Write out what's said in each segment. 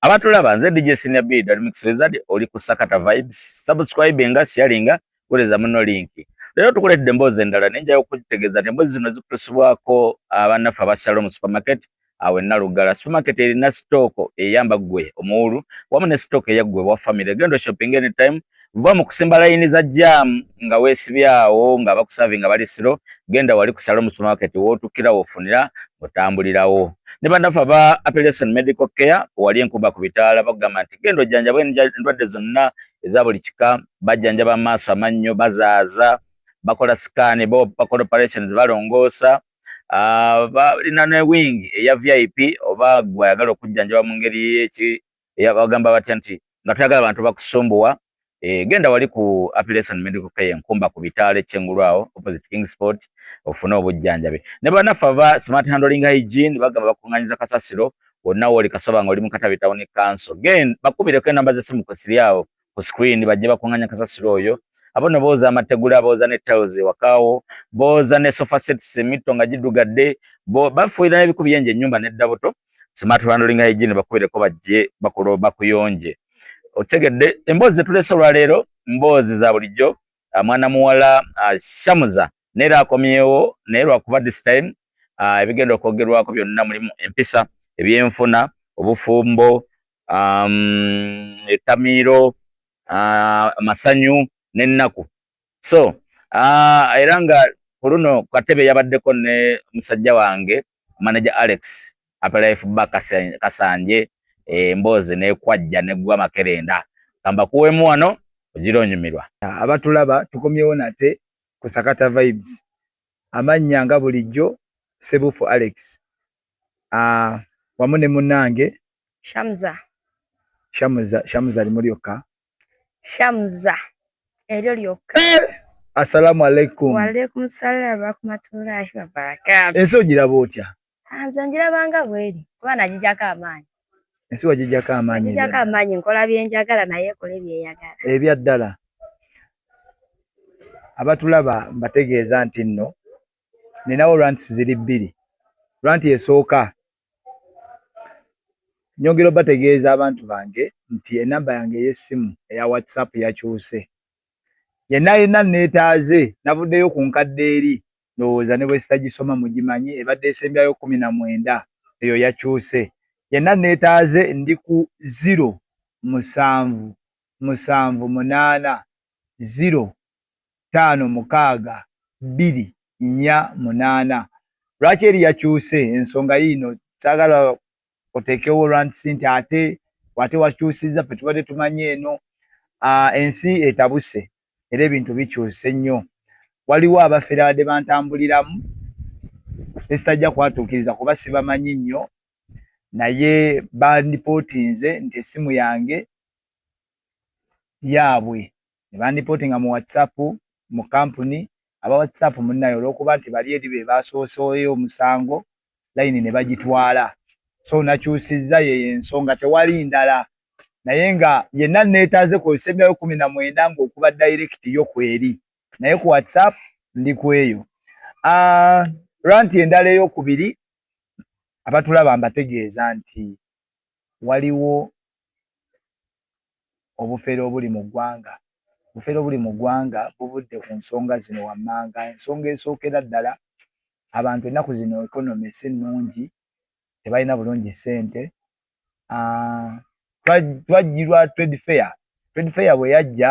abatulaba nze DJ Senior B Dad Mix Wizard oli ku Sakata Vibes subscribe nga sharing nga kuleza muno link lero tukuledde mbozi endala nenja yokutegeza ne mbozi zino zikusibwako abanafa ba Shalom Supermarket awe nalugala supermarket erina stock eyamba gwe omuulu wamu ne stock ya gwe wa family gendo shopping anytime Vva mu kusimba layini za jaamu nga weesibye awo nga bakusaavi nga bali siro, genda wali ku Shalom Supermarket w'otuukira w'ofunira ng'otambulirawo. Ne bannaffe aba Appellation Medical Care wali enkuba ku bitaala bakugamba nti genda ojjanjabwe endwadde zonna eza buli kika, bajjanjaba amaaso, amannyo, bazaaza, bakola sikaani, bakola operations, balongoosa, ah, balina ne wingi eya VIP oba gwe ayagala okujjanjaba mu ngeri eyabagamba batya nti nga toyagala bantu bakusumbuwa e, genda wali ku application medical care nkumba ku bitaale kyengulu awo opposite king sport ofune obujjanjabi ne banaffe aba smart handling hygiene bagamba bakunganyiza kasasiro wonna woli kasoba nga oli mu katabi tawuni kanso gen bakubireko enamba zesimu kwesiri awo ku screen bajje bakunganya kasasiro oyo abo no boza amategula boza ne tiles wakawo boza ne sofa sets mito nga jidugadde bo bafuira ne bikubi yenje nyumba ne daboto smart handling hygiene bakubire ko bajje bakulo bakuyonje otegedde embozi tulese lwa lero mbozi za bulijjo ah, mwana muwala ah, shamuza naye era akomyewo naye lwakuba this time uh, ebigenda okwogerwako byonna mulimu empisa ebyenfuna obufumbo um, etamiiro uh, amasanyu n'ennaku so uh, era nga ku luno katebe yabaddeko ne musajja wange manaja alex apelife ba kasanje emboozi eh, nekwajja negwa makerenda kambakuwemu wano ogira onyumirwa abatulaba tukomyewo nate ku Sakata Vibes. Amannya nga bulijjo, Ssebuufu Alex uh, wamu ne munnange Shamza. Shamza, Shamza limu lyokka. Shamza eryo lyokka. Eh! Assalamu alaikum. Wa alaikum salaam wa rahmatullahi wa barakatuh. Ensi ogiraba otya? Ah, nze ngirabanga bweri kuba nagijako amaanyi ensi wagijako amaanyi nagijako amaanyi nkola byenjagala naye ekola ebyeyagala ebya ddala abatulaba mbategeeza nti nno ninawo rants ziri bbiri ranti esooka nyongera obategeeza abantu bange nti enamba yange ey'essimu eya whatsapp yakyuse Yenna yenna nneetaaze, navuddeyo ku nkadde eri, ndowooza ne bwe sitagisoma mugimanyi, ebadde esembyayo kkumi na mwenda, eyo yakyuse. Yenna nneetaaze, ndi ku ziro, musanvu, musanvu, munaana, ziro, ttaano, mukaaga, bbiri, nnya, munaana. Lwaki eri yakyuse? Ensonga yiino, ssaagala oteekewo rand sente ate wate wakyusiza fe tubadde tumanyi eno uh, ensi etabuse era ebintu bikyuse nnyo waliwo abafere abadde bantambuliramu esitajja kwatuukiriza kuba sibamanyi nnyo naye bandipootinze nti essimu yange yaabwe ne bandipotinga mu WhatsApp mu kkampuni aba WhatsApp munnaye olw'okuba nti bali eri be baasooseeyo omusango layini ne bagitwala so nakyusizza yeyo ensonga tewali ndala naye nga yenna neetaaze kozesa emyayo kumi na mwenda ng'okuba direct yo kweri naye ku WhatsApp ndi kweyo ah, ranti endala ey'okubiri abatulaba mbategeeza nti waliwo obufere obuli mu ggwanga Obufere obuli mu ggwanga buvudde ku nsonga zino wammanga. Ensonga esookera ddala, abantu ennaku zino economy si nnungi, tebalina bulungi ssente. Twajjirwa trade fair. Trade fair bwe yajja,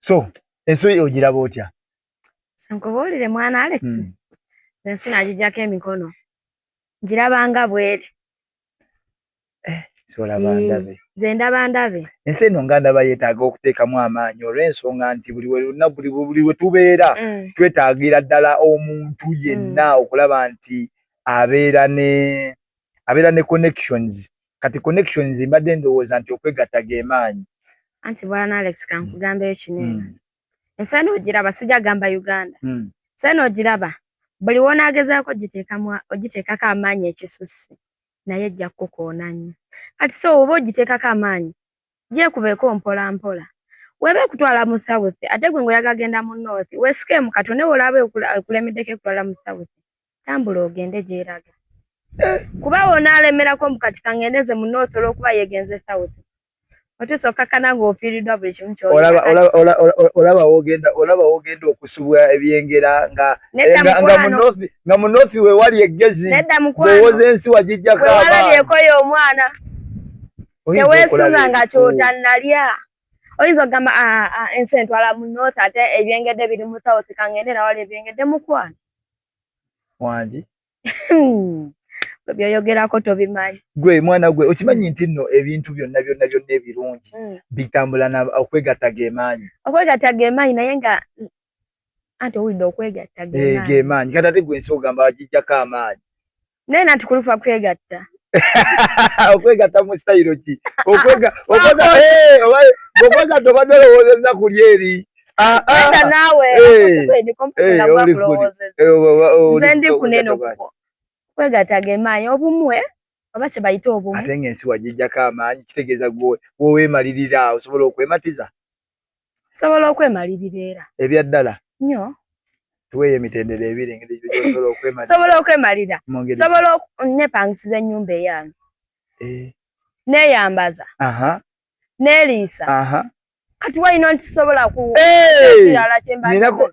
so ensoyi ogiraba otya nkubuulire mwana alex hmm. ensi nagijjako emikono ngiraba nga bweri eh, hmm. nze ndaba ndabe ensi eno nga ndaba yeetaaga okuteekamu amaanyi olw'ensonga nti buli wena buli we tubeera hmm. twetaagira ddala omuntu yenna okulaba nti abeera ne abeera ne connections kati connections mbadde ndowooza nti okwegatta gemaanyi anti bwana alex kankugambeyo kinene mm. ensi eno ogiraba sijja gamba uganda mm. ensi eno ogiraba buli wonaagezaako ogiteekako amaanyi ekisusse naye ejja kukukoona nnyo kati so oba ogiteekako amaanyi gyekubeeko mpola mpola weba ekutwala mu south ate gwe ngaoyagagenda mu north wesikeemu kati onewe olaba ekulemeddeko ekutwala mu south tambula ogende gyeraga eh. kuba wonaalemerako mbu kati kangendeze mu north olwokuba yegenze south otuusa okkakkana ng'ofiiriddwa buli kimu kyolaba wogenda okusubwa ebyengera nga eh, mu north wewali eggezi owoza ensi wagijjako walabyekooyo omwana teweesunga nga kyotannalya oyinza okugamba ah, ah, ah, ensi entwala mu north ate ebyengedde biri mu south kangende nawali ebyengedde mukwano wangi byoyogerako tobimanyi gwe mwana gwe okimanyi nti nno ebintu byonna byonna byonna ebirungi hmm. bitambula na okwegatta gemaanyi okwegatta gemaanyi naye nga anti owulidde okwegatta eh, gemaanyi kati ate gwe ensi ogamba wagijjako amaanyi naye nanti kulupa kwegatta okwegatta mu sitayiro ki okwegatta obadde olowoozezza ku lyeri enda naawe nze ndi kunene okuko kwegatta gemaanyi obumwe oba kye bayita obumu ate nga ensi wagijjako amaanyi kitegeeza gwe woweemalirira osobola okwematiza sobola okwemalirira era ebya ddala nyo tuweeyo emitendera ebiri engeri gyosobola okwemalira sobola okwemalira sobola nepangisiza ennyumba eyange eh. neyambaza neliisa kati walina nti sobola ku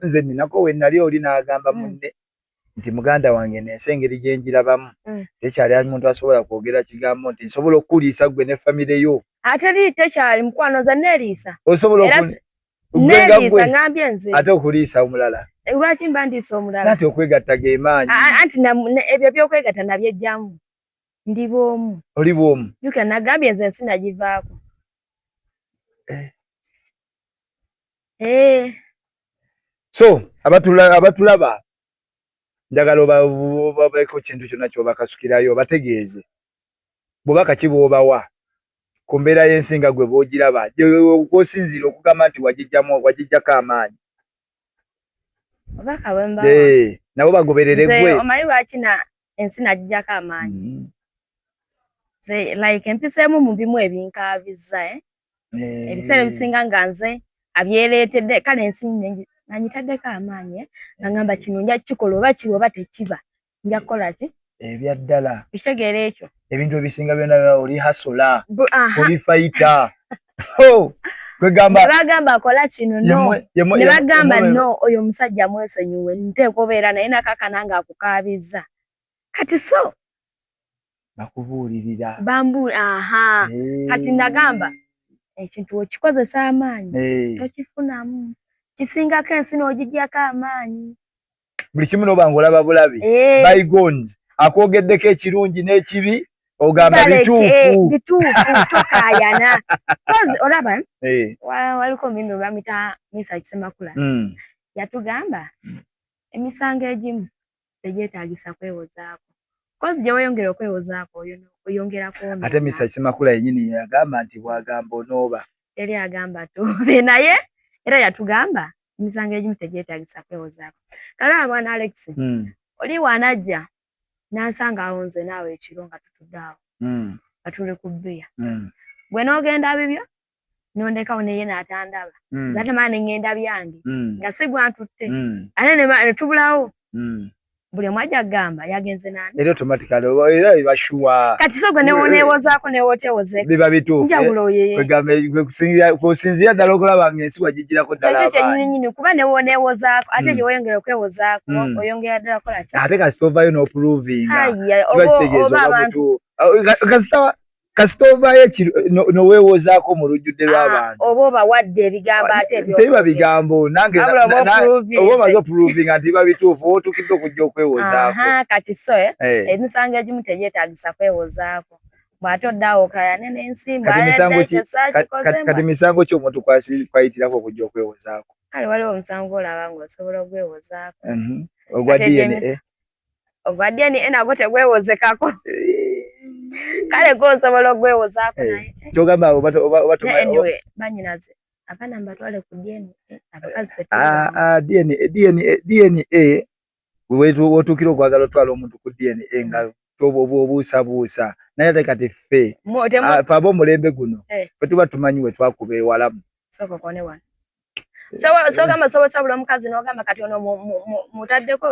nze ninako wenali oli nagamba hmm. munne nti muganda wange nensi engeri gyenjirabamu mm. tekyali ali muntu asobola kwogera kigambo nti nsobola okukuliisa gwe ne famire yo ateri tekyali mukwano nze neliisa osobola neliisa ngambye nze ate okuliisa omulala eh, lwaki mba ndiisa omulala ati okwegatta gemaanyi anti ebyo byokwegatta nabyejjamu ndi bwomu oli bwomu yuka nagambye nze ensi nagivaako eh. eh. so abatulaba njagala obaeko kintu kyonna kyobakasukirayo obategeeze bwobaka ki bwobawa ku mbeera y'ensi nga gwe bwogiraba kwosinziira okugamba nti wagijjamu wagijjako amaanyi eh, nabo bagoberere gwe omanyi lwaki na ensi nagijjako amaanyi mm-hmm. like empiseemu mu bimu ebinkaabiza eh? eh. ebiseera ebisinga nga nze abyereetedde kale ensi nanyitaddeko amaanyi eh, nga ngamba kino nja kukikola oba kiba oba tekiba nja kukola ki ebya ddala ekitegeera ekyo ebintu ebisinga byona oli hasola oli fayita kwegamba bagamba akola kino no ne bagamba no oyo omusajja mwesonyiwe nteeka obeera naye nakakana nga akukaabizza kati so bakubuulirira bambuul aha hey. kati nagamba ekintu okikozesa amaanyi hey. tokifunamu kisingako ensi n'ogijjako amaanyi buli kimu noba nga olaba bulabi hey. bygones akwogeddeko ekirungi n'ekibi ogamba bituufu bituufu tokayana kozi olaba eh. waliko mimi bamita misa kisemakula hmm. yatugamba hmm. emisango egimu tegyetaagisa kwewozaako kozi gye weyongera okwewozaako oyo oyongera kwona ate misa kimakula yenyini yagamba nti bwagamba onooba yali agamba tube naye era yatugamba emisango egimu tegyetaagisa kwewozaako kalaba mwana alex hmm. oli wanajja nansanga awo nze naawe ekiro nga tutudde awo hmm. nga tuli ku bbiya hmm. gwe n'ogenda bibyo nondekawo neye natandaba mm. zate maa nengenda byange mm. nga sigwa ntutte mm. ate netubulawo mm. buli omu aja kugamba yagenze nani era automatically era ibashuwa kati sogwe newonewozaako newotewozeko biba bituufukusinzira ddala okulaba nga ensi wagijirako ddalaekyenyininyini kuba newonewozaako ate mm. gyeweyongera okwewozaako mm. oyongera ddala kola ate kasita ovayo nopuluvinga kiba kitegeeza oba mutuufu kasita kasita ovaayo noweewozaako mu lujjudde ah, lw'abantu oba obawadde ebigambo ah, ate tebiba bigambo nange oba omaze oprovinga nti biba bituufu oba otuukidde okujja okwewozaako kati so eh, eh. emisango egimu tegyetaagisa kwewozaako bwate oddawo okayane n'ensimbokati misango ki omuntu kwayitirako okujja okwewozaako kale waliwo omusango olaba ngaosobola okwewozaako mhm. ogwa dna ogwadyeni enagwo tegwewozekako kale gwe osobola ogwewozaako eh, naye eh. kyogamba obatmaanyway banyinaze abaana mbatwale ku dyeni eh, abakazi ah, ah, dna wotuukira okwagala otwala omuntu ku dna nga obuusabuusa naye ate kati ffe ah, fe ab'omulembe guno fe tuba tumanyi we twakuba ewalamu sogamba soba sabula omukazi nogamba kati ono mutaddeko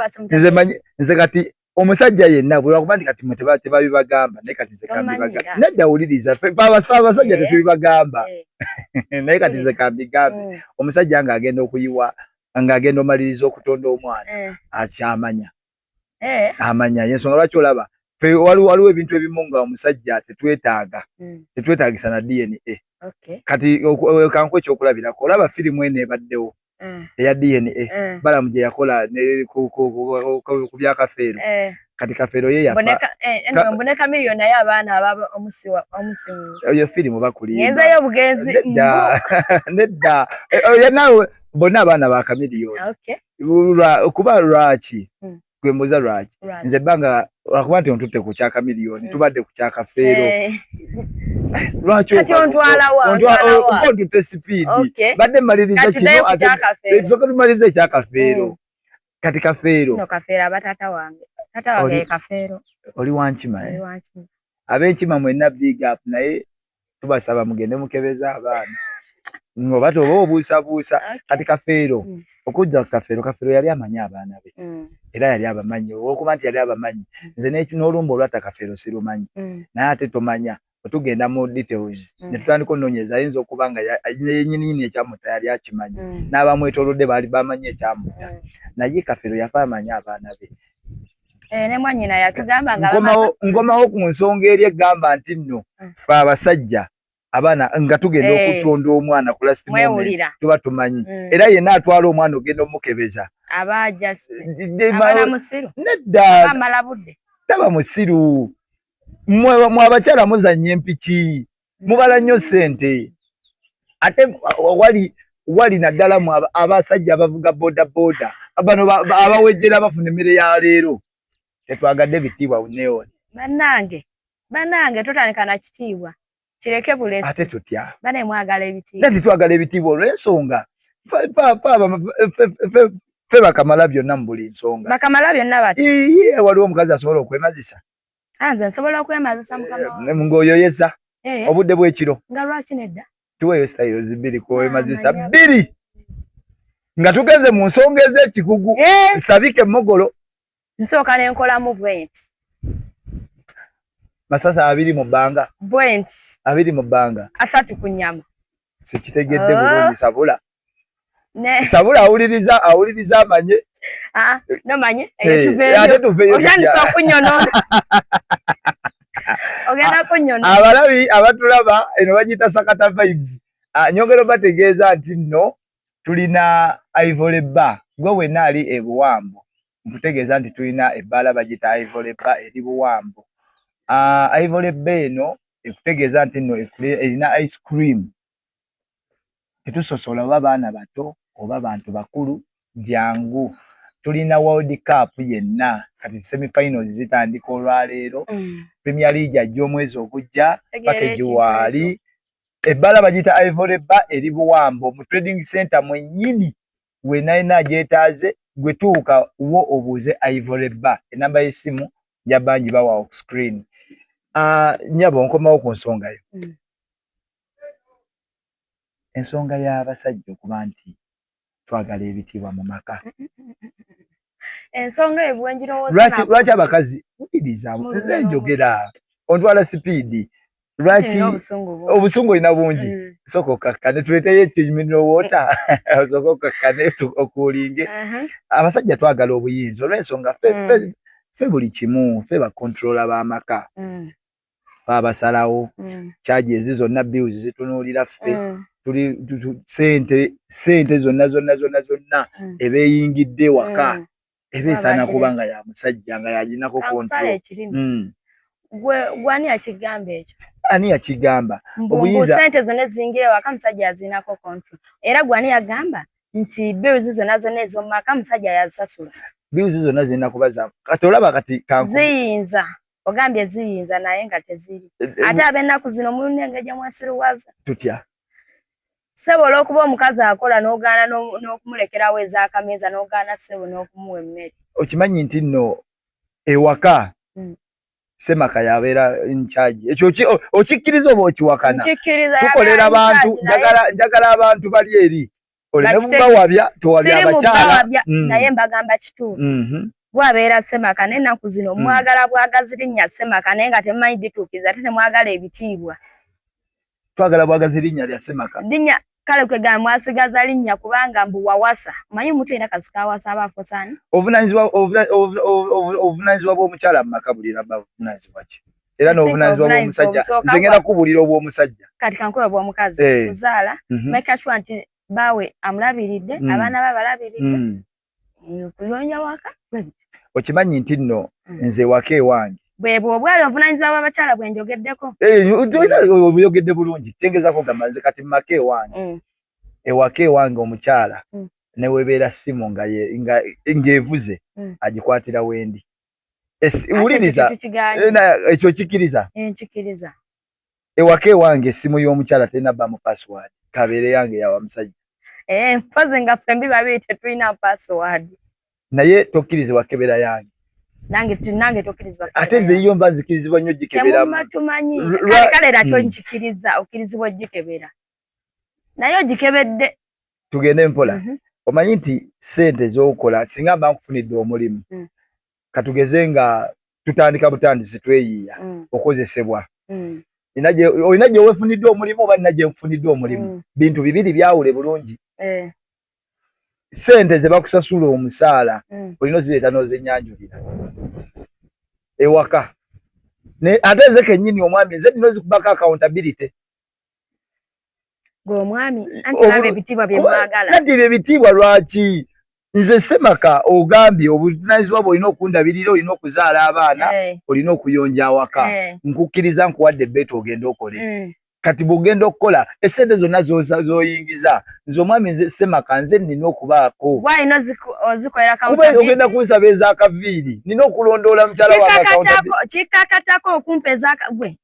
nze kati omusajja yenna bwebakuba nti kati mwe tebabibagamba naye kati nze kambibagamba nedda wuliriza abasajja tetubibagamba eh, eh. naye kati nze eh. kambigambe mm. omusajja nga agenda okuyiwa nga agenda omaliriza okutonda omwana akyamanya eh. amanya yensonga lwaki olaba waliwo ebintu ebimu nga omusajja tetwetaaga hmm. tetwetaagisa na dna kati kanku ekyokulabirako olaba firimu eno ebaddewo eh. eya dna eh. balamu gye yakola ku bya kafeero kati kafeero ye yafaoyo firimu bakulinedda nawe bonna abaana ba kamiliyoni kuba lwaki hmm. gwe mbuza lwaki nze banga lwakuba nti ontutte ku kyaka miliyoni hmm. tubadde ku kyaka feero eh. lwakiontute sipiidi badde maliriza kinosoka tumaliriza ekyakafeero hmm. kati kafeero oli wankima eh? abenkima mwena big up naye tubasaba mugende mukebeze abaana oba toba obuusabuusa kati kafeero mm. okujja kukafeero kafeero yali amanyi abaana be mm. era yali abamanyi olwokuba nti yali abamanyi mm. nze n'olumba olwatta kafeero sirumanyi naye ate tomanya otugenda mu details ne tutandika onoonyeza ayinza okuba nga yenyininyini ekyamutta yali akimanyi n'abamwetolodde baali bamanyi ekyamutta naye kafeero yafa amanyi abaana be Eh, nkomawo ku nsonga eri egamba nti nno mm. fe abasajja abaana nga tugenda eh. okutonda omwana ku last moment tuba tumanyi mm. era yenna atwala omwana ogenda omukebeza neddataba musiru mwe abakyala muzanya empiki mubala nnyo sente ate wali wali naddala mu abasajja abavuga boda boda bano abawejjera abafuna emmere ya leero tetwagadde bitiibwa uneoni banange banange totandika na kitiibwa kireke bulesi ate tutya bane mwagala ebitiibwa nti twagala ebitiibwa olw'ensonga fe bakamala byonna mu buli nsonga bakamala byonna bati iye waliwo omukazi asobola okwemazisa Ah, nze nsobola okwemazisa mukama eh, ng'oyoyeza eh. obudde bw'ekiro nga lwaki nedda tuweeyo sitayiro zibiri kwewemazisa ah, bbiri nga tugeze mu nsonga ez'ekikugu eh. nsabike emogolo nsooka ne nkolamu bwenti masasa abiri mu bbanga bwenti abiri mu bbanga asatu ku nyama sikitegedde ah. bulungi sabula sabula awuliriza awuliriza amanye ah, nomanye ate tuveeyootandisa okunyonona ogenda kunyona abalabi abatulaba eno bagiyita sakata vibes ah, nyongero bategeeza nti nno tulina ivory bar gwe wenna ali ebuwambo nkutegeeza nti tulina ebbaala bagiyita Ivory Bar eri Buwambo. Ah, Ivory Bar eno ekutegeeza nti nno erina ice cream tetusosola oba baana bato oba bantu bakulu jangu tulina world cup yenna kati semifinals zitandika olwaleero mm. premier league ajja omwezi ogujja paka egiwaali ebbala bagiyita Ivory Bar eri Buwambo mu trading center mwennyini we nalina agyetaaze gwe tuuka wo obuuze ivory bar enamba y'essimu ja bangi bawa oku screen uh, nyabo nkomawo ku nsonga yo mm. ensonga y'abasajja okuba nti twagala ebitiibwa mu maka ensonga ebwenjirowolwaki abakazi mubirizamu nze njogera ontwala sipiidi lwaki obusungu olina bungi mm. soka okakkane tuleteyo ekimineral water soka okakkane okuulinge uh-huh. abasajja twagala obuyinza olwensonga fe mm. buli kimu fe bakontrola b'amaka mm. fe abasalawo kyaji ezi zonna bills zitunuulira ffe tuli sente sente zonna zonna zonna zonna ebeeyingidde waka eba esaana kuba nga ya musajja nga yaginako kontrol hmm. gwe gwani yakigamba ekyo ani yakigamba obuyinza sente zona ezingira ewaka musajja yazinako kontrol era gwani yagamba nti bills zona zona ezomumaka musajja yazisasula bills zona zirina kuba za kati olaba kati ziyinza ogambye ziyinza naye nga teziri eh, eh, ate abennaku zino mulina engeri gyemwesiruwaza tutya Ssebo olwokuba omukazi akola n'ogaana n'okumulekerawo ez'akameeza n'ogaana ssebo n'okumuwa emmere. Okimanyi nti nno ewaka hmm. semaka yabeera nkyagi ekyo okikkiriza oba okiwakana tukolera bantu njagala abantu bali eri olenebugawabya towabya abakyala hmm. naye mbagamba kituufu mhm. bwabeera semaka n'ennaku zino hmm. mwagala bwagazi linnya semaka naye nga temumanyi dituukiza ate temwagala ebitiibwa twagala bwagazi linnya lya semaka linnya kale kwegamba mwasigaza linnya kubanga mbu wawasa manyi omuntu yena kasika awasa aba afusani obuvunanyizibwa bw'omukyala mu maka buli raba buvunanyizibwa ki era n'obuvunanyizibwa bw'omusajja nze ngenda kubulira obw'omusajja kati kankuba bw'omukazi eh. kuzaala mhm. make sure nti baawe amulabiridde mhm. abaana be abalabiridde mhm. okuyonja waka okimanyi nti nno mm. nze waka ewange bwebwo obwali obuvunanyizibwa bw'abakyala bwe njogeddeko oyogedde bulungi kitegeezako gamba nze kati mumaka ewange mm. ewaka ewange omukyala mm. newebeera simu ng'evuze agikwatira wendi wuliriza ekyo kikiriza ewaka ewange esimu y'omukyala terina bamu password kabeere yange yawa musajja eh, mpozi nga fembi babiri tetulina password naye tokkiriza wakebera yange nange nange tokkirizibwa ate nze yo mba nzikirizibwa nnyo gikeberamu tumanyi kale kale nakyo hmm. nkikiriza okkirizibwa ogikebera naye ogikebedde tugende mpola mhm. omanyi nti sente z'okola singa mba nkufunidde omulimu hmm. katugeze nga tutandika butandisi tweyiiya mm. okozesebwa mm. olina gye wefunidde omulimu oba nina gye nkufunidde omulimu mm. bintu bibiri byawule bulungi eh. sente ze bakusasula omusaala mm. olina ozireeta n'ozenyanjulira ewaka ate nze kennyini omwami nze nina ozikubako accountability gwe omwami anti laba ebitiibwa bye mwagala nanti ebyo ebitiibwa lwaki nze semaka ogambye obuvunanyizibwa bwe olina okundabirira olina okuzaala abaana eh. olina okuyonja awaka eh. nkukkiriza nkuwadde beeta ogenda okole mm. kati bwogenda okukola esente zonna zoyingiza nze omwami nze semaka nze nina okubaako kuba ogenda kunsaba ezakaviiri nina okulondoola mukyala wangakikakatako okumpa ezagwe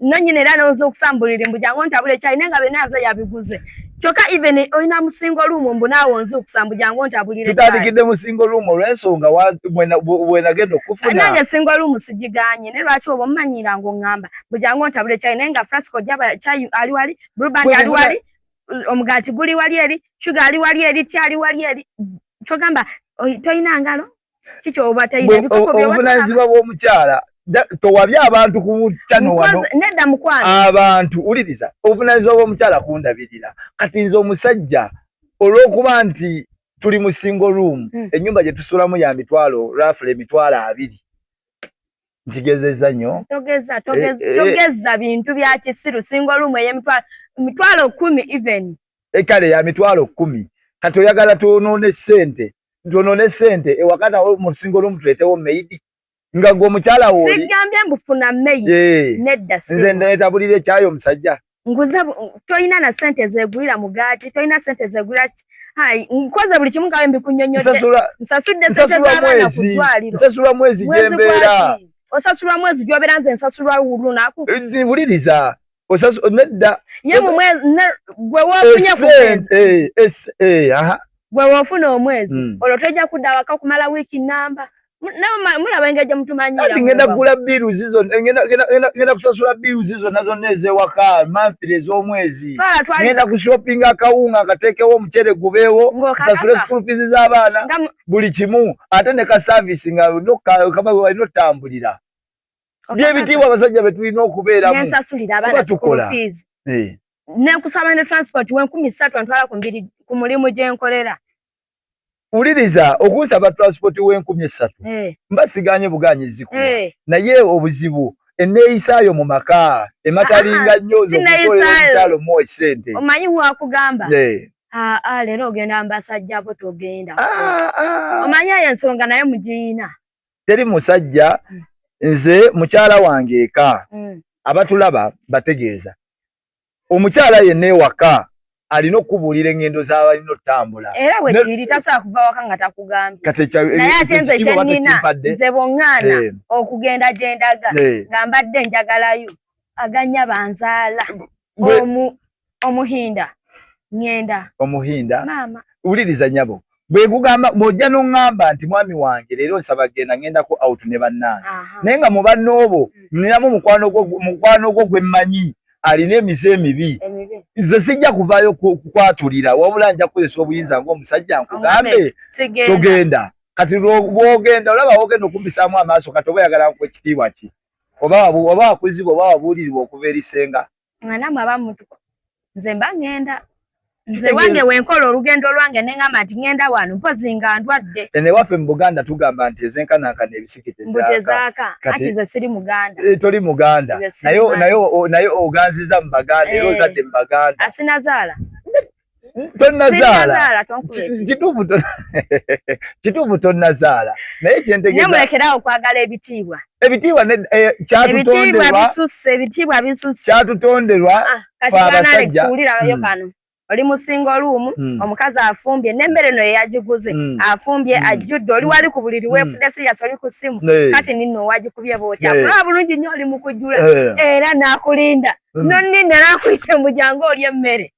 nanyina era nawoza okusambulira mbu jangu ntabule chai nenga bena aza yabiguze kyoka even oyina musingo room mbu nawo nzi okusambu jangu ntabulira chai tutadikide musingo room olwensonga wena wena gendo kufuna nanye singo room sijiganye ne lwaki obo manyira ngo ngamba mbu jangu ntabule chai nenga frasco jaba chai ali wali bruban ali wali omugati guli wali eri sugar ali wali eri ti ali wali eri chogamba oyina ngalo kiki obatayina bikopo byo obuvunanyizibwa bw'omukyala towabye abantu ku chano wano nedda mukwano abantu uliriza obuvunanyizibwa bw'omukyala kundabirira kati nze omusajja olw'okuba nti tuli mu single room hmm. ennyumba gye tusulamu ya mitwalo rafula emitwalo abiri nkigezeza nyo togeza togeza e, e, togeza bintu bya kisiru singo lumu eye mitwalo mitwalo kumi even ekale ya mitwalo kumi kati oyagala tuonone sente tuonone sente ewakana wo mu singo lumu tuletewo meidi nga gwo mukyala woli sigambye mbufuna meidi e, nedda singo nze ndetabulire kyayo musajja nguze toyina na sente zegulira mugaati toyina sente zegulira hai nkoze buli kimu ngawe mbikunyonyode nsasudde sente z'abaana ku ddwaliro nsasula mwezi gyembeera osasula mwezi gyobera nze nsasula lunaku eh, wuliriza nedda ye mu mwezi gwe wofunye ku mwezi eh, eh, gwe wofuna omwezi hmm. olwo tojja kudda waka okumala wiiki namba ngenda kugula biru zizo ngenda kusasula biru zizo nazo nezewaka manfire ezomwezi ngenda kushopinga akawunga akatekewo omucere gubeewo sasule school fees zabaana buli kimu ate ne ka service nga walina otambulira byebitiibwa abasajja betulina okubeeramu kuba tukola eh. nekusaba ne transport wenkumi satu antwala ku mulimu gyenkolera uliriza okunsaba transport wenkumi esatu hey. Eh. mbasiganye buganyi ziku hey. Eh. naye obuzibu eneyisayo mu maka ematalinga ah, nyo zokutolekyalo mu esente omanyi wakugamba hey. Eh. Ah, ah, lero ogenda mbasajja bo togenda ah, ah. omanyi ayo ensonga naye mugiyina teri musajja hmm. nze mukyala wange eka mm. abatulaba bategeeza omukyala yenna ewaka alina okukubuulira eŋŋendo z'abalina okutambula era bwe kiri tasobola kuva waka nga takugambyenaye ate nze kyennina nze boŋŋaana eh. okugenda gye ndaga eh. nga mbadde njagalayo aganya banzaala omuhinda ŋŋenda omuhinda maama wuliriza nyabo bwe gugamba bw'ojja n'oŋŋamba nti mwami wange leero nsaba genda ŋŋendako out ne bannange naye nga mu banna obo mm. ninamu mukwano gwo gwe mmanyi alina emize emibi nze sijja kuvaayo kukwatulira wabula nja kukozesa obuyinza ng'omusajja nkugambe togenda kati bwogenda olaba wogenda okumbisaamu amaaso kati oba oyagala nku ekitiibwa ki oba wakuzibwa oba wabuulirirwa okuva eri senga nga namwe aba mutuko nze mba ngenda nze wange wenkola olugendo lwange nengamba nti ngenda wano mpozi nga ndwadde ene waffe mu buganda tugamba nti ezenkanankana ebisikitezaaka ati nze siri muganda eh, toli muganda naye oganziza mu baganda era eh. ozadde mu baganda asinazaala tonazaala kituufu kituufu tonazaala naye kyentegeezamulekeraawo okwagala ebitiibwa ebitiibwa eh, kyatutonderwaebitiibwa bisusse kyatutonderwa ah, fe abasajja hmm. kano oli musinga oluumu hmm. omukazi afumbye nembere no yeyagiguze hmm. afumbye ajjudde oli wali ku buliri wefude siyasi oli ku simu kati ninno owagikubye bootya kulaba bulungi nyo oli mukujjula era nakulinda nonninda nakuyite mujangu oli emmere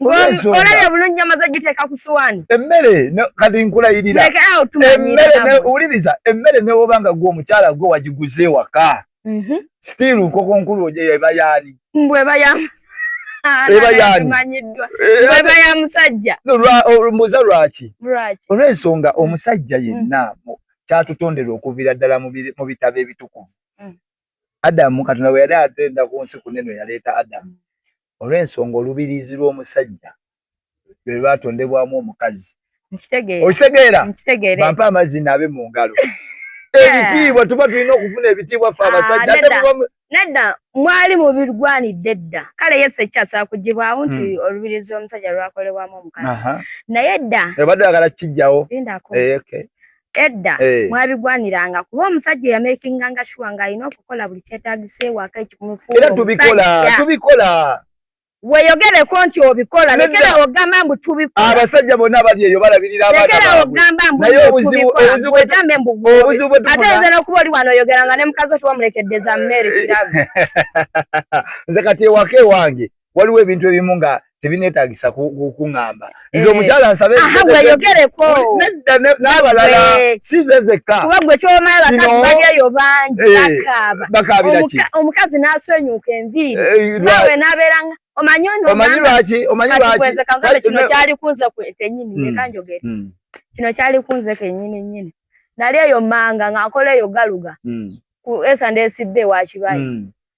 olabye bulungi amaze giteeka ku suwaani emmere kati nkulayirira emmere wuliriza emmere newoba nga gwe omukyala gwe wagiguze ewaka mhm. still nkoko nkulu oja eba yaani mbweba yaani eba ya musajja mbuza lwaki olwensonga omusajja yenna mm. kyatutonderwa okuviira ddala mu bitabo ebitukuvu mm. adamu katonda bwe yali atenda ku nsi kuneno yaleeta adamu mm. olw'ensonga olubiriizi lw'omusajja lwe lwatondebwamu omukazi okitegeera bampe amazzi naabe mu ngalo ebitiibwa tuba tulina okufuna ebitiibwa ffe abasajja nedda mwali mubirwanidde dda kale yesu ekyasobola kugibwawo nti hmm. olubirizi lw'omusajja lwakolebwamu omukazi naye dda obadde oyagala kukijjawo eh, edda eh. mwabigwaniranga kuba omusajja yamakinga nga shuwa nga alina okukola buli kyetagisa ewaka ekikumufuera tubikola tubikola weyogereko nti obikola lekera ogamba mbu tubikola abasajja bonna bali eyo balabirira abalekera ogamba mbu obuzibu bwegambe mbu obuzibu bwe ate nzera okuba oli wano oyogera nga ne mukazi otuwa mulekeddeza mmere kiraga nze kati ewaka ewange waliwo ebintu ebimu nga tebineetagisa kukuŋamba nze eh. omukyala nsabe weyogereko nedda n'abalala sinze zekka kuba gwe kyomala bakazi balyayo bangi eh, bakaaba bakaabira ki omukazi n'aswenyuka enviiri eh, nawe n'abeera nga omanyi ono omanyi lwaki omanyi lwaki kwenze kangambe kino kyali kunze kwetenyini hmm. leka njogere hmm. kino kyali kunze kenyini nyini nali eyo manga ng'akola eyo galuga hmm. ku esande esidde ewa kibayi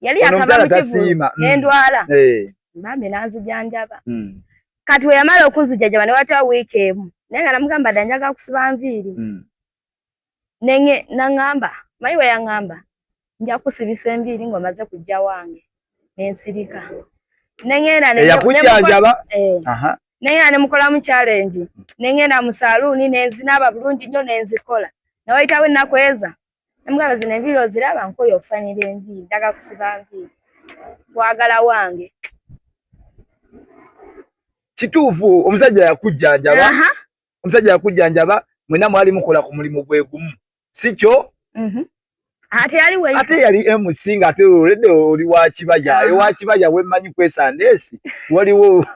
yali akaba mukivulu mm. nendwala eh. bambi nanzijanjaba mm. kati weyamala okunzijajaba newatawo wiiki emu naye nga namugamba da njaga kusiba nviiri mm. nenge nangamba mayi weyangamba nja kusibisa enviiri ngaomaze kujja wange nensirika nengeeyakujanjaba eh. nengenda nemukolamu challenge nengenda musaluuni nenzinaaba bulungi nnyo nenzikola newayitawo ennaku eza Namugamba zino enviiri oziraba nkoye okusanira enviiri ndaga kusiba nviiri kwagala wange kituufu omusajja yakujjanjaba omusajja yakujjanjaba mwena mwali mukola ku mulimu gwe gumu si kyo mhm. ate yali mc nga ate olede oli wakibaya ewakibaya wemanyi kwesandeesi waliwo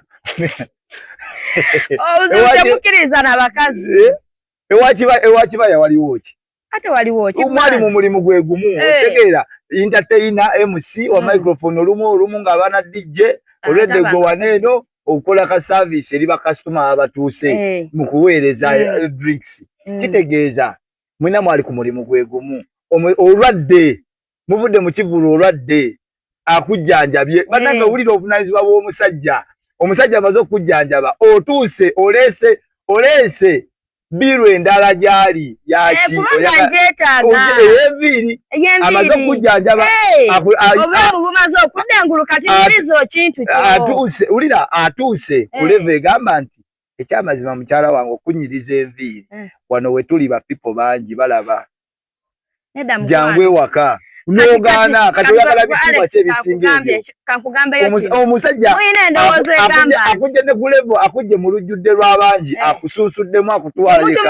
ewakibaya waliwo ki ate waliwo kimwali mu mulimu gwe gumu hey. Eh. otegeera entertainer mc wa mm. microphone olumu olumu nga abaana dj ah, olwedde gwe waneeno okukola ka service eri bakasitoma abatuuse hey. Eh. mu kuweereza hey. Eh. drinks mm. kitegeeza mwena mwali ku mulimu gwe gumu olwadde muvudde mu kivulu olwadde akujjanjabye eh. bannange owulira obuvunaanyizibwa bw'omusajja omusajja amaze okukujjanjaba otuuse oleese oleese biru endala gyali yaki eyenviiri amaze okukujjanjaba atuuse wulira atuuse eh. kuleva egamba nti ekyamazima mukyala wange okunyiriza enviiri eh. wano wetuli bapipo bangi balaba jangu ewaka nogaana kati oyagala bitiibwa ki ebisinga ebyomusajjaakujje ne kulevo akujje mu lujjudde lw'abangi eh. akusunsuddemu akutwalaate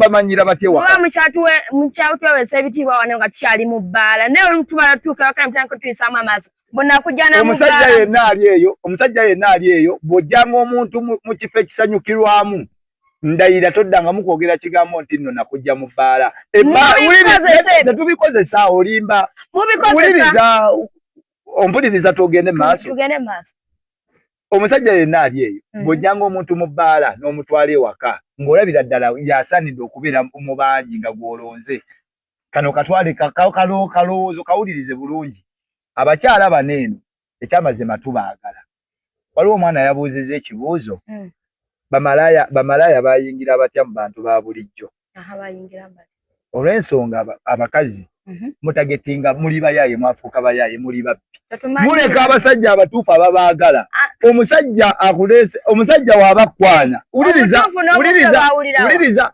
bamanyira batyewakamukyatwewesa ebitiibwa wano nga tukyali mu bbaala naye olutubala tutuuka wakana mutandika tuyisaamu amaaso omusajja yenna ali eyo omusajja yenna ali eyo bw'ojjanga omuntu mu kifo ekisanyukirwamu ndayira toddangamu kwogera kigambo nti nno nakujja mu bbaala tetubikozesa olimba wuliriza ompuliriza tugende maaso omusajja yenna ali eyo mm. bwojjanga omuntu mu bbaala n'omutwala ewaka ng'olabira ddala yasaanidde okubeera mu bangi nga gw'olonze kano katwale kalowoozo kawulirize bulungi abakyala bano eno ekyamazima tubaagala waliwo omwana yabuuziza ekibuuzo hmm. bamalaaya bamalaaya bayingira batya mu bantu ba bulijjo olw'ensonga abakazi mhm. mutagetinga muli bayaaye mwafuuka bayaaye muli babbi muleka abasajja abatuufu ababaagala ah. omusajja akuleese omusajja waabakwana wuliriza wuliriza wuliriza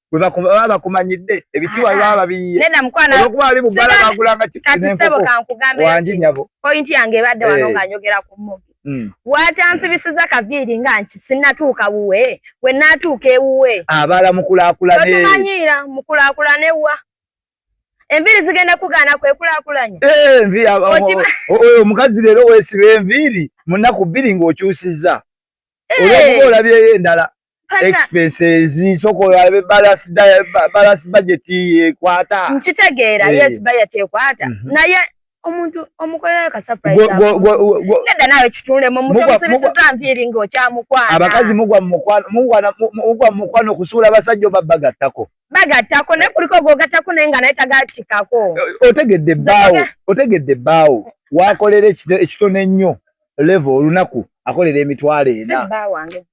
baba bakumanyidde ebitiwa baba babiyiyeolwokuba ali mubala bagulanga kiwangi nyabo pointi yange ebadde wano eh. nga njogera ku mubi hmm. watansibisiza kaviiri nga nki sinatuuka wuwe we natuuka ewuwe abala mukulakulanotumanyira mukulakulana ewuwa enviiri zigenda kugaana kwekulakulanya eh, oyo omukazi leero wesiba enviiri munaku bbiri ng'okyusiza eh. olwokuba olabyeyo endala expenses soko yabe balance diet balance budget ekwata nkitegeera eh. yes budget ekwata mm -hmm. naye omuntu omukolera ka surprise neda nawe kitunde mu mutu musibisiza nviiri ng'okyamukwana abakazi mugwa mukwano mugwa mukwano kusuula basajja obabagattako bagattako naye kuliko gogattako naye nga naye tagatikako otegedde ebbaawo otegedde ebbaawo wakolera ekitono ennyo leve olunaku akolera emitwalo ena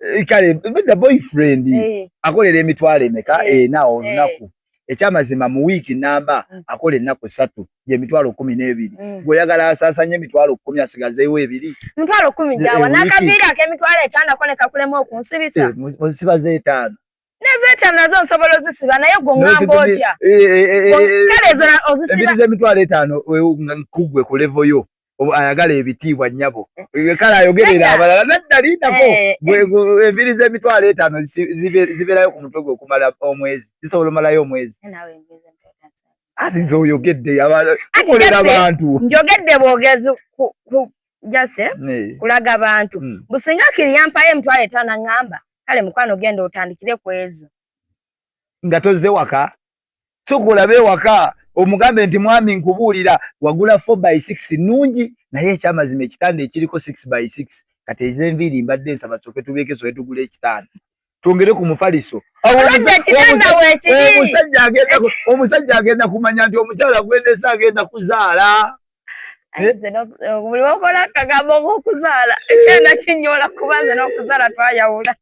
eh, kale bedda boyfriend eh. akolera emitwalo emeka eh. ena olunaku ekyamazima mu wiiki namba mm. akola ennaku satu gyemitwalo kumi n'ebiri mm. gweoyagala asaasanye emitwalo kumi asigazeewo ebiri mitwalo kumi gyawa nakaviiri akemitwalo etano konekakulemu okunsibisa nsibaza etaano Nezeeta nazo nsobola ozisiba naye gwe ngamba otya? Eh, eh, eh, kale ezala ozisiba. Embiri z'emitwalo etaano nkugwe ku levo yo ayagala ebitiibwa nnyabo kale ayogerera abalala nadda lindako embiri z'emitwalo etaano zibeerayo ku mutwe gwe okumala omwezi zisobola omalayo omwezi ati nze oyogedde tukolera abantu njogedde bwogezi jase eh? kulaga bantu mm. businga kiri yampayo emitwalo etaano aŋŋamba kale mukwano genda otandikire ku ezo nga tozze waka soka olabe ewaka omugambe nti mwami nkubuulira wagula 4 by 6 nnungi naye ekyamazima ekitanda ekiriko 6 by 6 kati ezenviiri mbadde nsaba coke tubeeke soke tugula ekitanda twongere ku mufaliso omusajja agenda kumanya nti omukyala gwendesa agenda kuzaala eh? eh, buli wakola akagambo ngaokuzaala ekyenda kinyola kuba nze n'okuzaala twayawula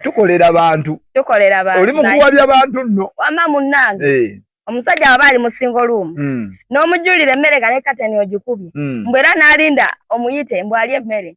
tukolera bantu tukolera bantu oli mukuwabya bantu nno wama munnange eh. omusajja waba ali musingo luumu hmm. n'omujulira emmere galekateni ogikubye hmm. mbwera n'alinda omuyite mbwali emmere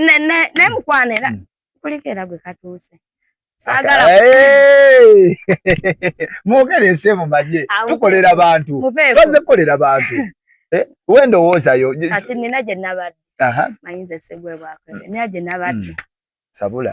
ne ne ne mukwanira hmm. kulikera gwe katuuse sagala mwogere ensi emu manye tukolera bantu twaze kukolera bantu eh, wendowoozayo kati nina gye nabadde mayinza esegwebwakwebe naye gye nabadde hmm. sabula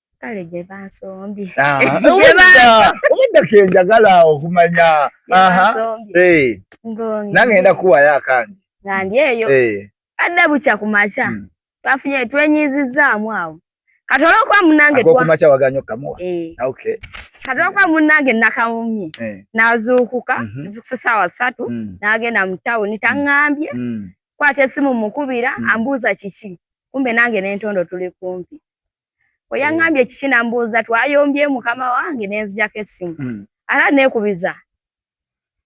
kale gye bansombye obuddako enjagala okumanya nangenda kuwayo akange ngandi eyo adda bukya ku makya hmm. twafunye twenyiizizzaamu awo kati olwokuba munange kumakya waganya okamuwa eh. ah, kati olwokuba munange nakawumye eh. nazuukuka mhm. zukusa saawa satu hmm. nagenda mu tawuni hmm. taŋŋambye kwata esimu mukubira ambuuza kiki kumbe nange nentondo tuli kumpi we yaŋŋambye mm. kiki nambuuza twayombye mukama wange ne nzijako essimu mm. ate neekubiza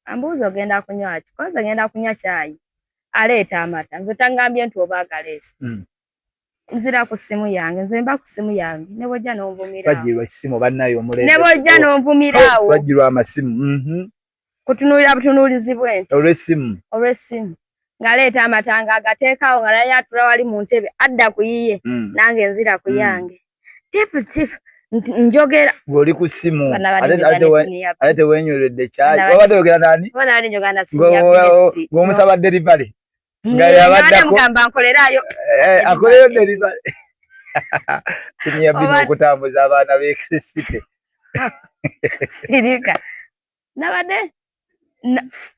ambuuza ogenda kunywa ki koze ngenda kunywa kyayi aleeta amata nze taŋŋambye nti oba agaleesi mm. nzira ku simu yange nze mba ku simu yange ne bwojja n'onvumiraawo ne bwojja n'onvumiraawo twajjirwa amasimu mhm. kutunuulira butunuulizi bwe nti olw'essimu olw'essimu ng'aleeta amatanga agateekawo nga naye atula wali mu ntebe adda ku yiye hmm. nange nzira ku hmm. yange tifu tifu njogera ng'oli ku ssimu ate tewenyweredde kyayi wabadde oyogera nani ng'omusaba delivery hmm, nga yabaddakogamba nkolerayo eh, akoleyo delivery simu yabbina okutambuza abaana b'ekisisite sirika nabadde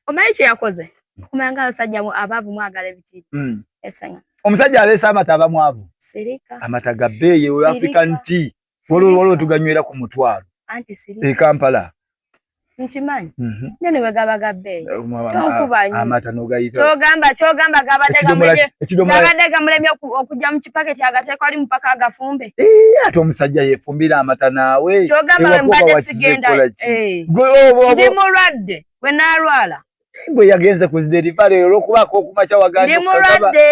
omanyi kyeyakoze kumanga abasajja abaavu mwagala ebitiibi hmm. esanya omusajja aleese amata aba mwavu amata ga bbeeyi eyo african tea wolwolwo tuganywera ku mutwalo e kampala nkimanyi mhm. naye ne bwe gaba ga bbeeyi tonkubanyoamata nogayitakyogamba kyogamba gabadde gamulemye okujja mu kipaketi agateekwali mupaka agafumbe Eh, ate omusajja yefumbira amata naawe kyogamba mbadde sigenda eh. ndi mulwadde bwe nalwala gwe yagenze ku ziderivale olwokubaako okumakya wagandimuladde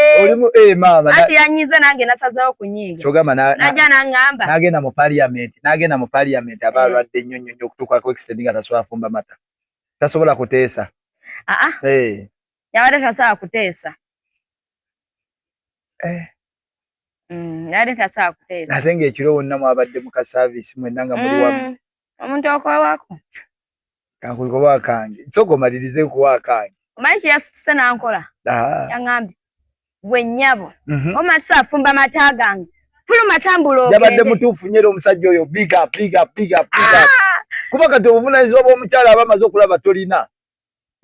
eh, maama ati yanyiza nange nasazawo kunyiiga kyogamba naja nangamba nagenda mu parliament nagenda mu parliament aba alwadde nnyo nnyo nnyo okutuuka ku extend nga tasobola fumba mata tasobola kuteesa aa ah, ah. yabadde tasobola kuteesa Mm, yali tasobola kuteesa ate ng'ekiro wonna mwabadde mu kasaaviisi mwenna nga muli wamu mm, omuntu okwawako kankuli kuba akange soka omalirize kuwa akange omanyi kyeyasituse nankola ah. yaŋambye gwe nnyabo mhm. omatisa afumba mata gange fuluma tambula ogende yabadde mutuufu nyera omusajja oyo big up big up big up big up ah. kuba kati obuvunanyizibwa bw'omukyala aba amaze okulaba tolina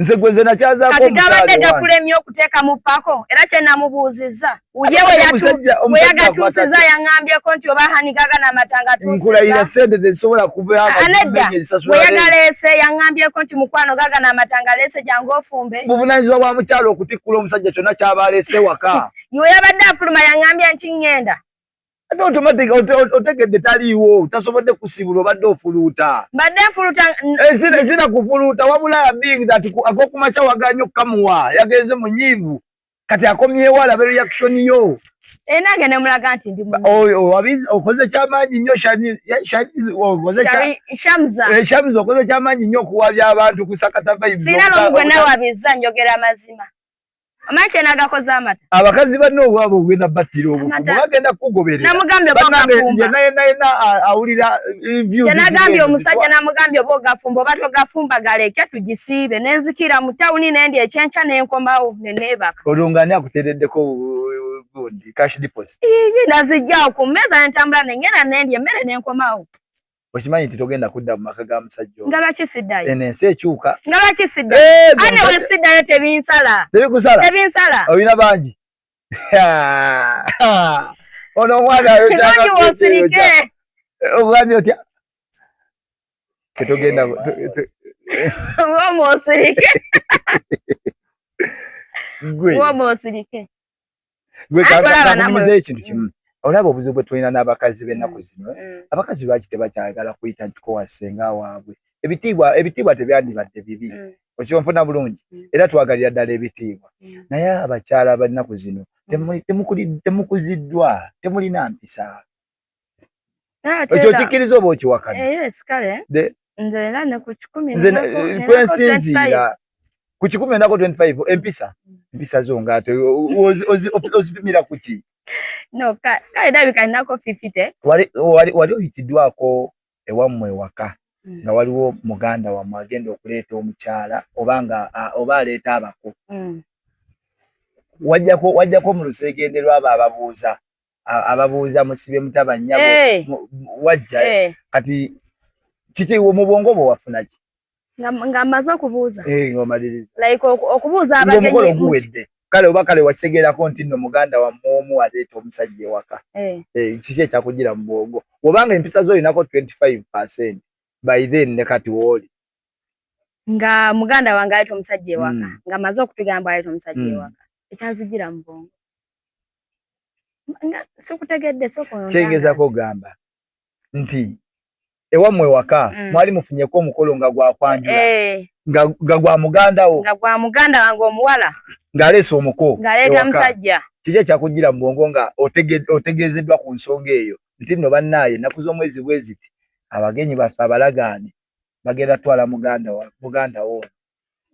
nze gwe nze nakyazaako gabadde gakulemye okuteekamu pako era kye namubuuzizza uye we yagatuusiza yaŋambyeko nti oba hanigaga namatanga nkulayira sente tezisobola kubaanedda we yagaleese yaŋambyeko nti mukwano gaga namatanga leese jangu ofumbe buvunanyizibwa bwa mukyalo okutikkula omusajja kyonna kyaba aleese waka ywe yabadde afuluma yaŋambye nti ŋŋenda ate automatic otegedde taliiwo tasobodde kusibula obadde ofuluuta mbadde nfuluuta ezina kufuluuta wabula being that akokumakya waganye okukamuwa yagenze mu nyiivu kati akomyewo alabe reaction yo enange nemulaga nti ndi okoze kyamaanyi nnyo shamza okoze kyamaanyi nnyo okuwabya abantu kusakata vaibsina nomu gwe nawabiza njogera amazima Omanyi kye nagakoze amata. Abakazi banne obwabo ogenda battira obufu. Bagenda kukugoberera. Namugambye oba ogafumba. Naye naye na awulira eh, views. Kye nagambye omusajja namugambye oba ogafumba oba togafumba galeke tugisiibe ne nzikira mu tawuni ne ndya ekyenkya ne nkomawo ne neebaka. Olwo ng'ani akuteereddeko gundi cash deposit? Iyi nazijjawo ku mmeeza ne ntambula ne ngenda ne ndya emmere ne nkomawo. okimanyi nti togenda kudda mu maka ga musajja nga lwaki siddayo eno ensi ekyuka nga lwaki siddayo ane we siddayo tebinsala tebikusala tebinsala olina bangi ono omwana yoosirike ogambye otya tetogenda womosirike womosirike gwekankumiza ekintu kimu mm. olaba obuzibu bwe tulina n'abakazi b'ennaku mm. zino eh? mm. abakazi lwaki tebakyagala kuyita ntiko wasenga waabwe ebitiibwa ebitiibwa tebyandibadde bibi okyonfuna bulungi era twagalira ddala ebitiibwa naye abakyala b'ennaku zino temukuziddwa temulina mpisa ekyo okikkiriza oba okiwakana eh, eh, kwensinziira ku kikumi enako 25 empisa mm. empisa zo ngaate ozipimira kuki wali oyitiddwako ewammwe ewaka mm. nga waliwo muganda wammwe agenda okuleeta omukyala oba nga oba aleeta abako mm. wajjako mu luseegenderwa abo ababuuza ababuuza musibe mutaba nyabo hey. Eh. wajja hey. Eh. kati kiki mu bwongo bwo wafuna ki nga maze okubuuza hey, eh, ngomaliriza like okubuuza abagenyi omukolo guwedde kale oba kale wakitegeerako nti nno muganda wammwe omu aleeta omusajja ewaka hey. hey, kiki ekyakugira mu bwongo obanga empisa zo olinako 25 percent by then ne kati wooli nga muganda wange aleeta omusajja ewaka mm. nga maze okutugamba aleeta omusajja mm. ewaka ekyanzigira mu bwongo sikutegedde sokyengezako ogamba nti ewammwe waka mm. mwali mufunyeko omukolo nga gwakwanjula eh. nga gwa muganda wo nga gwa muganda wange omuwala ng'aleese omuko ng'aleeta musajja kiki ekyakujjira mu bwongo nga otegeezeddwa ku nsonga eyo nti nno bannaaye ennaku z'omwezi bweziti abagenyi baffe abalagaane bagenda twala muganda wo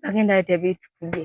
bagenda leeta ebitukuge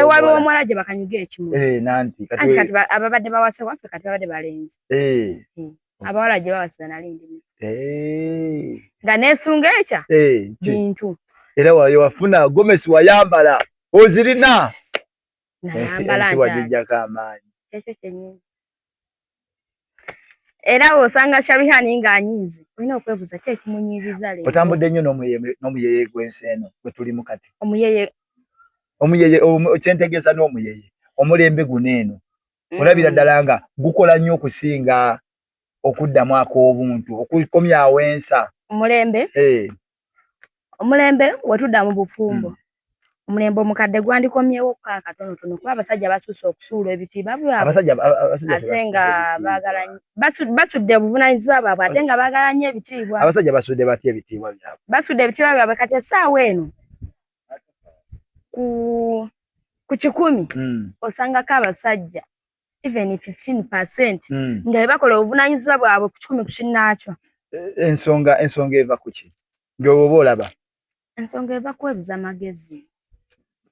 ewali omuwala gye bakanyuga ekimu eh, nanti kati ababadde bawase waffe kati babadde balenzi eh. hmm. abawala gye bawasiza nali ndi eh. nga nesunga ekya bintu era wayo wafuna gomesi wayambala ozirina nayambala nti wajijjako amaanyi ekyo kyenyini era osanga sharihani ng'anyiize olina okwebuuza ki ekimunyiiziza leero otambudde nnyo n'omuyeye gw'ensi eno gwe tulimu kati omuyeye omuyeye kyentegeeza n'omuyeye omulembe guno eno mm. olabira ddala nga gukola nnyo okusinga okuddamu ak'obuntu okukomyawo ensa omulembe eh. omulembe wetudda mu bufumbo hmm. omulembe omukadde gwandikomyewo ko akatonotono kuba abasajja basuuse okusuula ebitiibwa bwabate nga bagala basudde obuvunanyizibwa bwabwe ate nga bagala nnyo ebitiibwa abasajja basudde batya ebitiibwa byabwe basudde ebitiibwa byabwe kati essaawa eno ku ku kikumi hmm. osangako abasajja even 15% mm. nga bakola obuvunanyizibwa bwabwe ku kikumi ku kinnaakyo eh, ensonga ensonga eva ku ki ng'oba oba olaba ensonga eva kwebuza magezi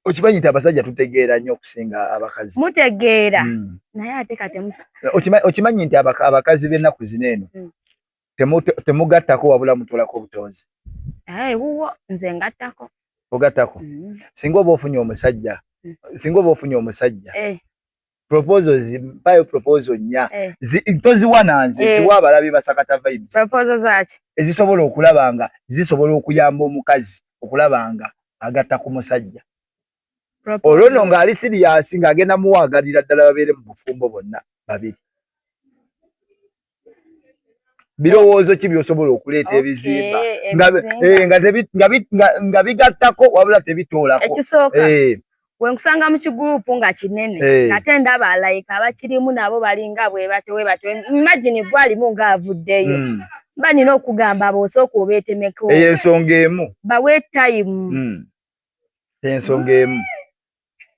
okimanyi nti abasajja tutegeera nnyo okusinga abakazi mutegeera mm. naye ate katemu okimanyi nti abakazi b'ennaku zino eno mm. temugattako wabula mutolako obutonzi aye eh, wuwo nze ngattako ogattako mm. singa oba ofunye omusajja mm. singa oba ofunye omusajja eh. proposal zimpayo proposal nya eh. toziwa nanze eh. ziwa abalabi basakata vibes proposal zaki ezisobola okulaba nga zisobola okuyamba omukazi okulaba nga agatta ku musajja olwo no nga ali siriyasi nga agenda muwagalira ddala babeere mu bufumbo bonna babiri birowoozo ki byosobola okuleeta ebizimba eh, nga bigattako wabula tebitoolako ekisooka eh. wenkusanga mu kigurupu nga kinene eh. ate ndaba alayika abakirimu nabo balinga bwebatewebate imagini gwalimu nga avuddeyo hmm. mba nina okugamba bosooka obeetemeko eyo ensonga emu bawe tayimu hmm. ensonga emu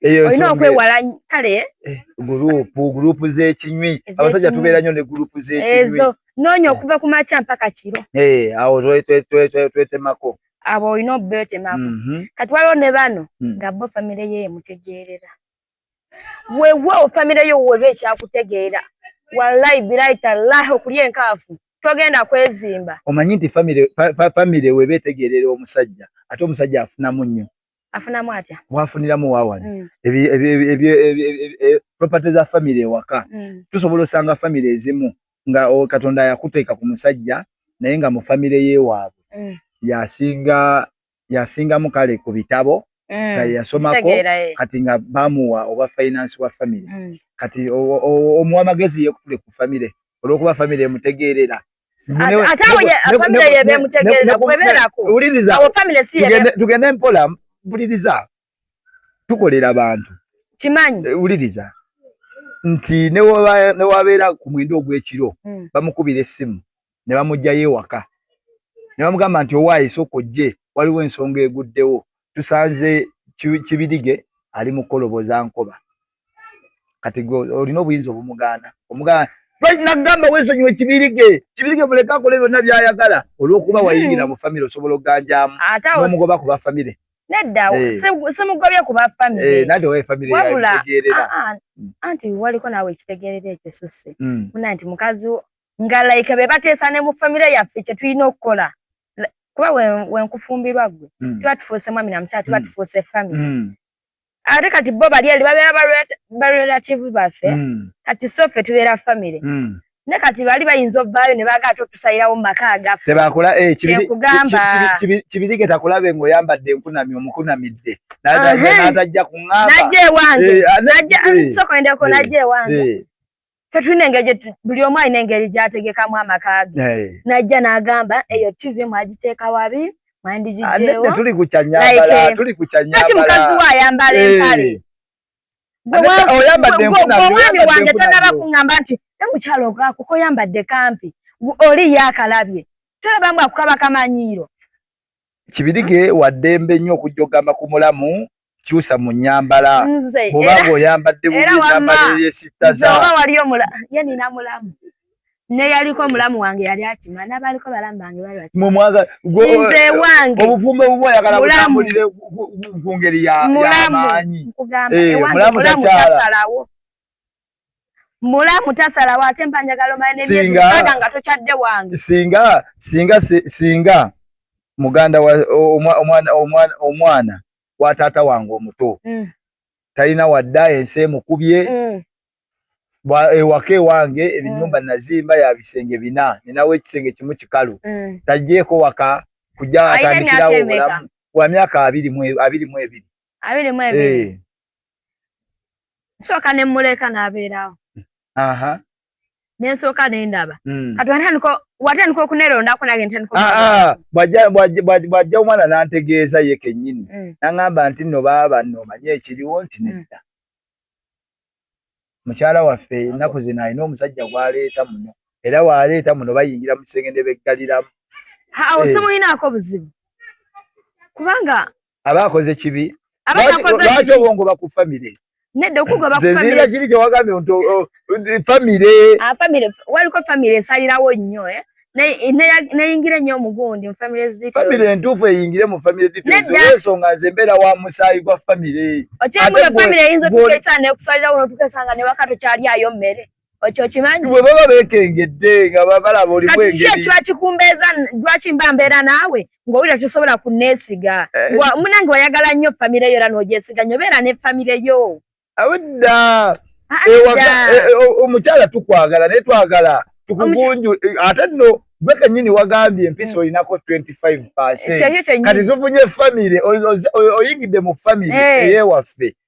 olina okwewala kale eh, gurupu gurupu z'ekinywi abasajja tubeera nnyo ne gurupu z'ekinywi noonya okuva ku makya mpaka kiro eh, awo twetemako abo olina obetemako mhm. kati waliwo ne bano hmm. nga bo famire ye emutegeerera weewaawo famire yo weba ekyakutegeera wallahi birayi tallahi okulya enkaafu togenda kwezimba omanyi nti famire weba etegeerera omusajja ate omusajja afunamu nnyo afunamu atya mwafuniramu wawano mm. property za family ewaka mm. tusobola osanga family ezimu nga oh, katonda yakuteeka ku musajja naye nga mu family yewaabwe mm. yasinga yasingamu kale ku bitabo mm. nga yasomako eh. kati nga bamuwa oba finance wa family mm. kati omuwa amagezi yekutule ku family olwokuba family emutegeerera tugende mpola mpuliriza tukolera bantu kimanyi eh, wuliriza nti newabeera ku mwenda ogw'ekiro hmm. bamukubira essimu ne bamugjayo ewaka ne bamugamba nti owaayi sooka ojje waliwo ensonga eguddewo tusanze kibirige ali mukoloboza nkoba kati gwe olina obuyinza obumugaana omugaana lwaki nagamba wesonyiwa ekibirige kibirige muleke akole byonna byayagala olwokuba wayingira hmm. mu famire osobola okuganjamu nomugoba ku bafamire nedda eh. simugobye ku bafamireabula eh, ah, ah, hmm. anti waliko naawe ekitegerera ekisusse hmm. una nti mukazi nga like be bateesa ne mu famire yaffe kyetulina okukola kuba wenkufumbirwa gwe tuba tufuuse mwami namukyala tuba tufuuse famire ate kati bo bali ali babeera barelative baffe hmm. kati so ffe tubeera famire hmm. ne kati bali bayinza ovaayo ne baagala totusayirawo mu maka agafekugambakibirige eh, takulabe ngaoyambadde enkunami omukunamidde natajja kuŋamba najja ewange eh, ah, eh, sokendeko najja ewange fe tulina engeri buli omu alina engeri gyategekamu amaka ge eh. najja n'agamba eyo tv mwagiteeka wabi mwandigijeewotuli ah, kukyanyambalatuli kukyanyambala kati mukazi we ayambala eh. empale omwami wange tanaba kuŋamba nti namukyalo okuko oyambadde kampi oli yakalabye tolaba mbu akukaba kamanyiiro kibirige waddembe nnyo okujja okugamba ku mulamu kyusa mu nyambala oba ng'oyambadde bunyambala eyesittaza oba wali omula ye nina mulamu neyaliko omulamu wange yali akima nabaliko balamu bange balinze wange obufumbo bubu ayagala butambulire ku ngeri yamaanyi eh, mulamu takyala mulamu tasalawo ate mba njagala omanya nebyezikaaga nga tokyadde wange singa singa singa muganda wa omwana omwana omwana wa taata wange omuto mm. talina wadda ensi emukubye mm. ewaka ewange ebinyumba mm. nazimba ya bisenge bina ninawo ekisenge kimu kikalu mm. tajjeeko waka kujja atandikirawo obulamu wa myaka abiri mu ebiri abiri mu ebiri eh. nsooka ne mmuleka n'abeerawo nensooka nendaba hmm. kati watandika okunerondako nange ntandikbwajja ah, ah, omwana nantegeeza ye kenyini hmm. naŋamba nti no baaba nomanye ekiriwo nti hmm. nedda mukyala waffe ennaku zino alina omusajja gwaleeta muno era waleeta muno bayingira mu kisenge ne beggaliramu awo eh. simuyinaako buzibu kubanga abakoze kibi lwaki obongoba ku famire nedda okugoba kuzira kiri kyewagambye nti famire famire waliko famire esalirawo nnyo eh? neyingire nnyo omugundi famire entuufu eyingire mu famire detailsensonga nze mbeera wa musaayi gwa famire okyemula famire eyinza otukesaa nekusalirawo notukesanga newaka tokyali ayo mmere okyo kimanyi bwe baba beekengedde nga balaba oli bwengeri kati kiki ekiba kikumbeeza lwaki mba mbeera naawe ng'owulira tosobola kunneesiga eh, eh. munange wayagala nnyo famire yo era n'ogyesiga nnyo beera ne famire yo awedda ah, eh, omukyala tukwagala naye twagala tukugunju ate nno gwe kenyini wagambye empisa mm. olinako 25 kati tufunye famire oyingidde mu famire eyewaffe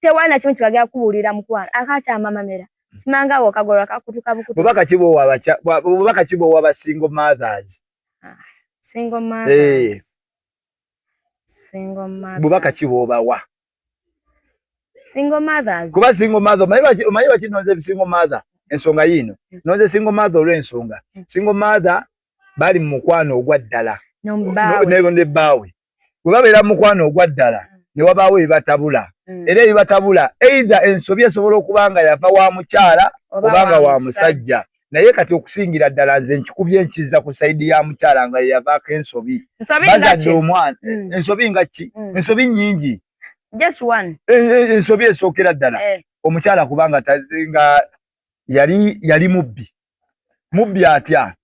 tewali na kimu kibagala kubuulira mukwano akakyamamamera simanga awo kagolwa kakutuka bukutu bubaka kibo wabacha bubaka kibo waba single mothers ah, single eh. mothers hey. single mothers bubaka kibo bawa single mothers kuba single mother mayiwa mayiwa kinoze single mother ensonga yino mm. noze single mother olwe ensonga mm. single mother bali mu mukwano ogwa ddala ne ne bawe bwe babeera mu mukwano ogwa ddala mm. ne wabaawo ebibatabula mm. era ebibatabula eitha ensobi esobola okuba nga yava wa mukyala oba nga wa musajja naye kati okusingira ddala nze nkikubye enkiza ku saidi ya mukyala nga yeyavaako ensobi bazadde omwana mm. ensobi nga ki ensobi nyingi ensobi esookera ddala eh. omukyala kubanga nga yali yali mubbi mubbi atya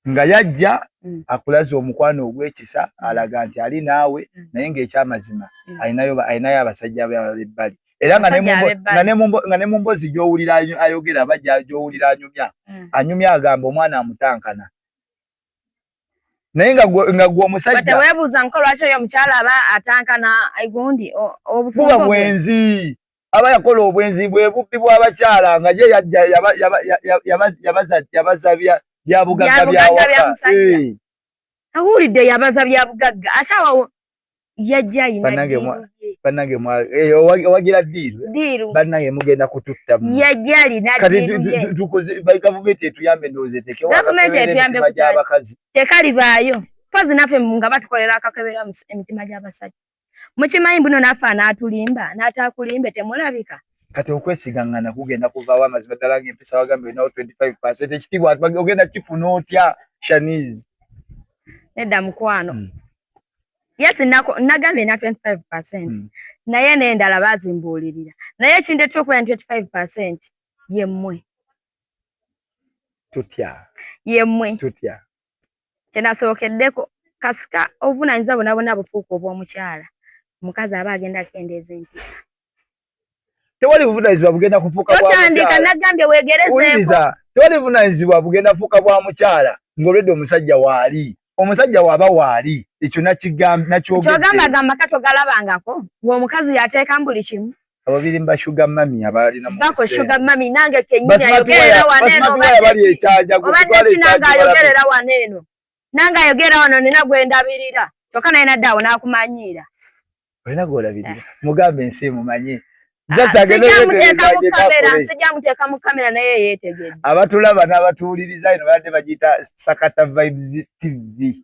nga yajja mm. akulaza omukwano ogwekisa mm. alaga nti ali naawe mm. naye ngaekyamazima mm. alinayo alinayo abasajja abalala ebbali era nga ne mu mbozi gyowulira ayogera aba gyowulira anyumya mm. anyumya agamba omwana amutankana naye nga gwe omusajjatewebuuza nko lwaki oyo omukyala aba atankana gundi obufuba bwenzi aba yakola obwenzi bwe bubbi bw'abakyala nga ye yajja yabaza byabugagga byawaka eh. awulidde yabaza byabugagga ate awo yajja yinabanange eh, owagira diiru banange mugenda kututtamu yajja alinagavumenti etuyambe ndowooza etekegavumenti etuyambe gyabakazi tekalibaayo mpozi naffe nga batukolera akakebera emitima gy'abasajja mukimanyi buno naffe anaatulimba n'ataakulimbe temulabika kati okwesigangana kugenda kuvaawo amazima ddala ng'empisa wagambe olinawo 25 percent ekitiibwa ogenda kifuna otya shaniz nedda mukwano mm. yes nagambye na 25 percent mm. naye n'endala baazimbuulirira naye ekindeeta okuba na 25 percent yemmwe tutya yemmwe tutya kyenasookeddeko kasika obuvunanyizibwa bona bona bufuuka obw'omukyala omukazi aba agenda akendeeza empisa tewali buvunanyizibwa bugenda kufuuka bwatandika nagambye wegerezewuliriza tewali buvunanyizibwa bugenda kufuuka bwa mukyala ng'olwedde omusajja waali omusajja waaba waali ekyo nakyogamba gamba katogalabangako ng'omukazi yateekamu buli kimu ababirimba sugar mami abaalina mubako sugar mami nange kenyini ayogerera wano eno bali ekyaja gutwala ekyaja ayogerera wano eno nange ayogerera wano nina gwendabirira kyokka naye nadde awo n'akumanyiira olina gwolabirira eh. mugambe ensi emumanye abatulaba n'abatuwuliriza eno badde bagiyita sakata vibes tv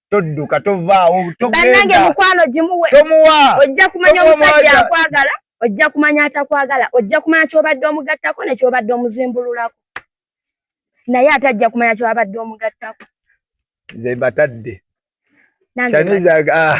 todduka tovaawo bannange mukwano gimuwe ojja kumanya omusajja akwagala ojja kumanya atakwagala ojja kumanya kyobadde omugattako nekyobadde omuzimbululako naye ate ajja kumanya kyobadde omugattako nze mbatadde ah,